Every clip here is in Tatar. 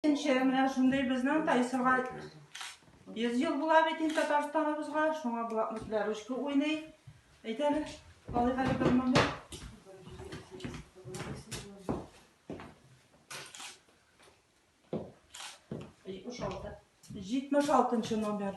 Икенче, менә шундый безнең Тайсырга 100 ел була бит инде Татарстаныбызга, шуңа блокнотлар ручка уйный. Әйтәле, алыйк әле бер моны. Җитмеш алтынчы номер.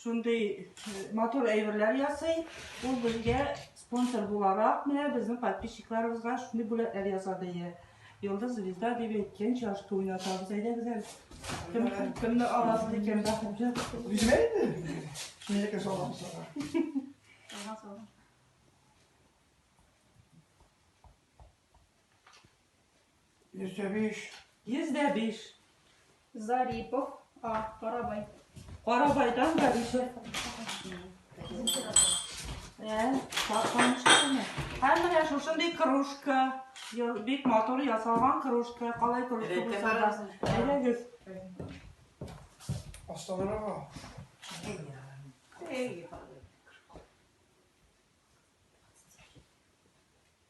Шундый матур әйберләр ясый. Ул безгә спонсор буларак, менә безнең подписчикларыбызга шундый бүләкләр ясады. Йолдыз звезда дип әйткән чашка уйнатабыз. Әйдәгез әле. Кем, кемне аласыз икән, бәхетле? Үземә инде. Шундыйрәк салам сага. Ага, салам. Йөз дә биш. Йөз дә биш. Зарипов А. Карабай. Карабайдан Зарипов. Ә, тапканышканы. Һәм менә шушындый кружка. Бик матур ясалган кружка. Калай кружка булса да. Әйдәгез. Асталарга. Әйдә.